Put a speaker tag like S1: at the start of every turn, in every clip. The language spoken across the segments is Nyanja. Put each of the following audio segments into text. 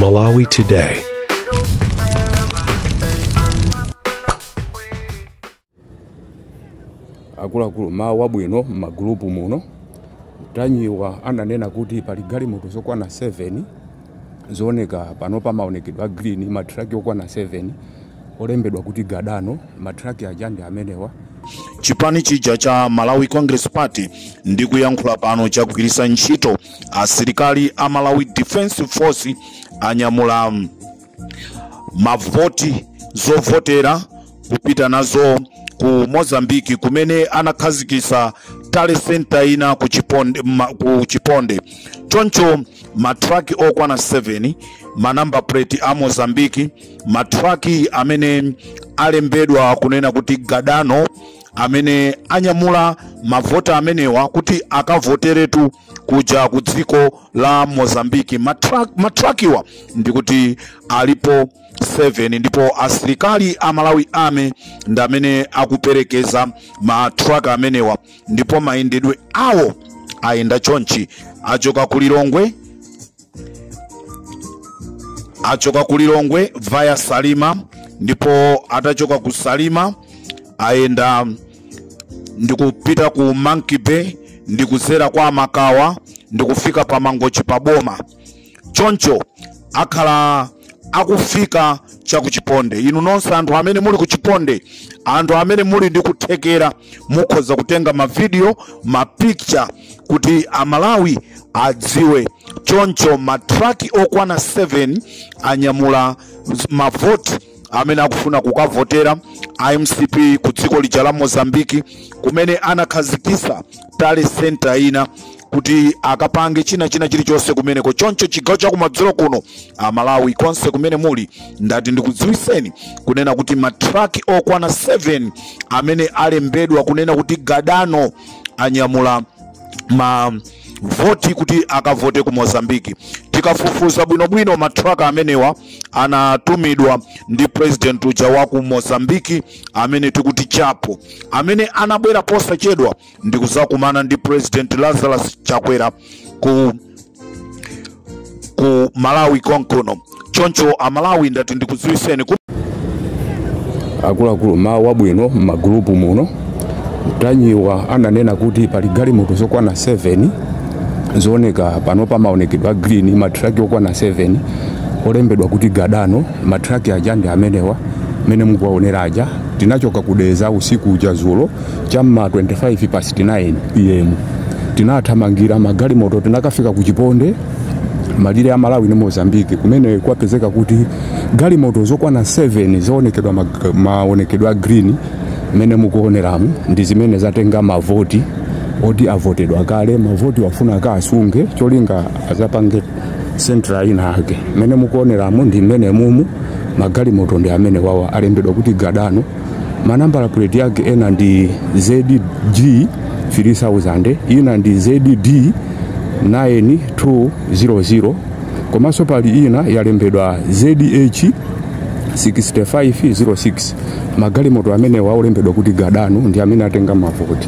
S1: Malawi
S2: Today. akuluakulu m'mawa wabwino m'magulupu muno Ntanyiwa ananena kuti pali galimoto zokwana 7 zooneka pano pamaonekedwe a green matraki okwana 7 olembedwa kuti gadano matraki aja ndi amenewa chipani
S3: chija cha malawi congress party ndikuyankhula pano chagwiritsa ntchito asilikali a Malawi Defense Force anyamula mavoti zovotera kupita nazo ku Mozambique kumene anakhazikisa tally center ina ku Chiponde. Choncho matraki okwana 7 ma number plate a Mozambique matraki amene alembedwa kunena kuti Gadano amene anyamula mavota amenewa kuti akavoteretu kuja ku dziko la mozambiki Matrakiwa ndikuti alipo 7 ndipo asilikali a malawi army ndi amene akuperekeza matraki amenewa ndipo mayendedwe awo ayenda chonchi achoka ku lilongwe achoka ku lilongwe via salima ndipo atachoka ku salima ayenda ndikupita ku monkey bay ndikuzera kwa makawa ndikufika pa mangochi pa boma choncho akhala akufika cha kuchiponde inu nonse anthu amene muli kuchiponde anthu amene muli ndi kuthekera mukhoza kutenga mavidiyo mapicture kuti amalawi adziwe choncho matraki okwana 7 anyamula mavoti amene akufuna kukavotera a mcp ku dziko lija la mozambiki kumene anakhazikisa tally center ina kuti akapange china china chilichonse kumeneko choncho chigawo chakumadzulo kuno amalawi konse kumene muli ndati ndikudziwiseni kunena kuti matraki okwana 7 amene alembedwa kunena kuti gadano anyamula ma voti kuti akavote ku mozambiki tikafufuza bwinobwino matraki amenewa anatumidwa ndi president uja wa ku mozambiki amene tikuti chapo amene anabwera posachedwa ndi kuzakumana ndi president lazarus chakwera ku malawi konkono choncho amalawi ndati ndikudziwiseni
S2: akuluakulu m'mawa wabwino m'magulupu muno Ntanyiwa ananena kuti pali galimoto zokwana 7 zooneka pano pamaonekedwe a green matraki okwana 7 olembedwa kuti gadano Ma truck aja ndi amenewa mene mukuwaonera aja tinachoka ku Dedza usiku uja dzulo cha m'ma 25 past 9 pm tinathamangira magalimoto tinakafika ku chiponde malire a malawi ndi mozambique kumene kwapezeka kuti galimoto zokwana 7 zowonekedwa mag- maonekedwe a green mmene mukuoneramu ndi zimene zatenga mavoti oti avotedwa kale mavotiwa afuna akasunge cholinga adzapange central ina yake mmene mukuoneramu ndi mmenemumu magalimoto ndi amenewawa alembedwa kuti gadano manambala plate yake ena ndi zg 3000 ina ndi zd 9200 komanso pali ina yalembedwa zh 6506 magalimoto amenewa olembedwa kuti gadano ndi amene atenga mavoti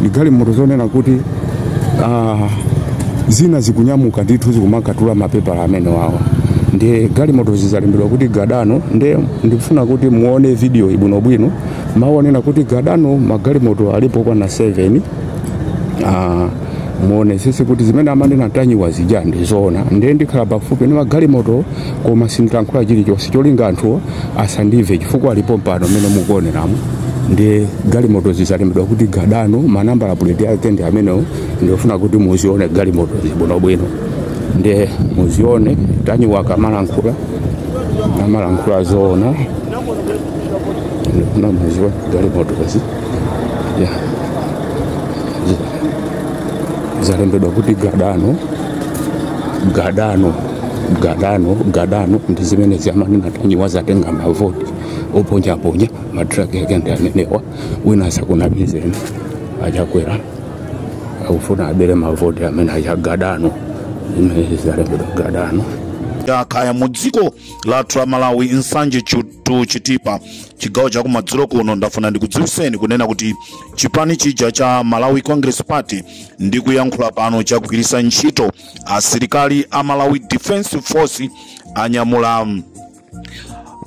S2: ndi galimoto zonena kuti ah, zina zikunyamuka ndithu zikumakatula mapepala amenewawa ndiye galimotozi zalembedwa kuti gadano ndiye ndikufuna kuti muone videoyi bwinobwino mawu onena kuti gadano magalimoto alipo okwana 7 Ah, muonetsetse kuti zimene amanena Ntanyiwa zija ndizoona ndiye ndikhala pafupi ndi magalimoto koma sindilankhula chilichonse cholinga anthuwo asandimve chifukwa ali pompano mmene mukuoneramo ndiye galimotozi zalembedwa kuti gadano manambala puleti ake ndi amenewo ndikufuna kuti muzione galimotozi bwinobwino ndiye muzione Ntanyiwa akamalankhula amalankhula zoona ndikufuna muzione galimotozi ya zalembedwa kuti gadano gadano gadano gadano ndi zimene zamanena Ntanyiwa zatenga mavoti oponyaponya matraki ake ndi amenewa wina asakunamizeni a Chakwera akufuna abere mavoti amene achagadano zimene zalembedwa gadano akhaya
S3: mu dziko lathu la malawi Nsanje to Chitipa chigawo cha kumadzulo kuno ndafuna ndikudziwitseni kunena kuti chipani chija cha malawi congress party ndikuyankhula pano chagwiritsa ntchito asilikali a Malawi Defense Force anyamula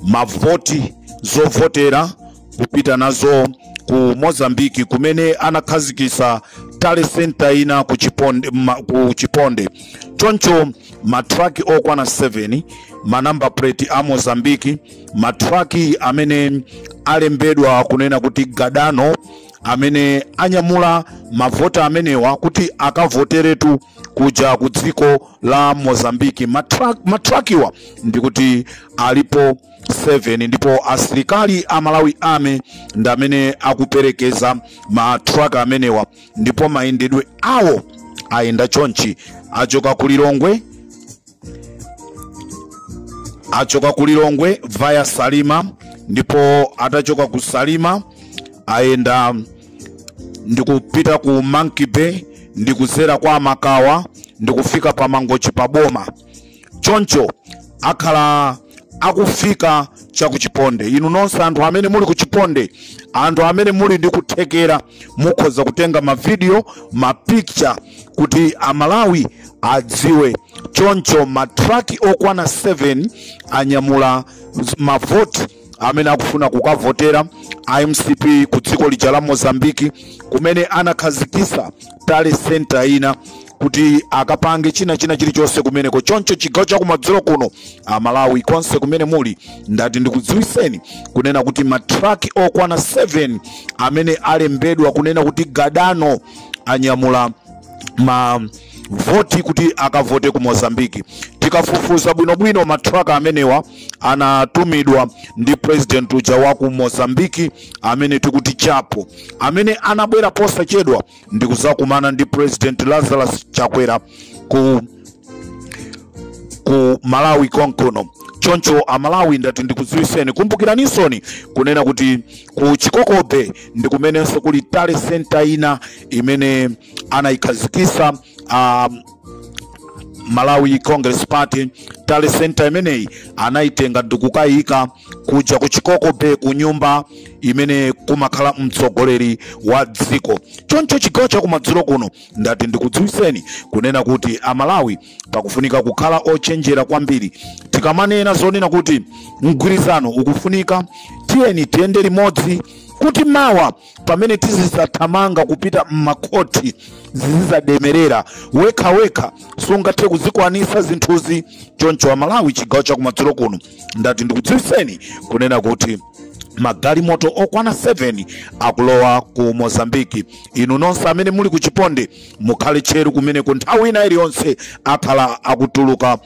S3: mavoti zovotera kupita nazo ku Mozambique kumene anakhazikitsa tally center ina ku Chiponde, ma, ku Chiponde. Choncho matraki okwana 7 manambala plate a Mozambique matraki amene alembedwa kunena kuti Gadano amene anyamula mavoti amenewa kuti akavoteretu kuja ku dziko la mozambiki Matrak- matrakiwa ndikuti alipo 7 ndipo asilikali a Malawi Army ndi amene akuperekeza matraki amenewa ndipo mayendedwe awo ayenda chonchi achoka ku lilongwe achoka ku lilongwe via salima ndipo atachoka ku salima ayenda ndikupita ku monkey bay ndikuzera kwa makawa ndikufika pa mangochi pa boma choncho akhala akufika cha kuchiponde inu nonse anthu amene muli kuchiponde anthu amene muli ndi kuthekera mukhoza kutenga mavidiyo mapicture kuti amalawi adziwe choncho matraki okwana 7 anyamula z- mavoti amene akufuna kukavotera a mcp ku dziko lija la mozambiki kumene anakhazikisa tally center ina kuti akapange china china chilichonse kumeneko choncho chigawo chakumadzulo kuno amalawi konse kumene muli ndati ndikudziwiseni kunena kuti matraki okwana 7 amene alembedwa kunena kuti gadano anyamula ma voti kuti akavote ku mozambiki tikafufuza bwinobwino matraki amenewa anatumidwa ndi president uja wa ku mozambiki amene tikuti chapo amene anabwera posachedwa ndikuzakumana ndi president lazarus chakwera ku ku malawi konkono choncho amalawi ndati ndikudziwiseni kumbukiranisoni kunena kuti ku chikoko bay ndikumenenso kuli tally center ina imene anayikhazikisa a malawi congress party tally center imeneyi anayitenga ndikukayika kuja ku chikoko bay ku nyumba imene kumakhala mtsogoleri wa dziko choncho chigawo chakumadzulo kuno ndati ndikudziwiseni kunena kuti amalawi pakufunika kukhala ochenjera kwambiri tikamanena zonena kuti mgwirizano ukufunika tiyeni tiyende limodzi kuti mawa pamene tizizathamanga kupita m'makhothi zizizatilemerera wekhawekha sungathe kuzikwanisa zinthuzi choncho amalawi chigawo chakumadzulo kuno ndati ndikudziwiseni kunena kuti magalimoto okwana 7 akulowa ku mozambiki inu nonse amene muli ku chiponde mukhale tcheru kumeneko nthawi ina iliyonse akhala akutuluka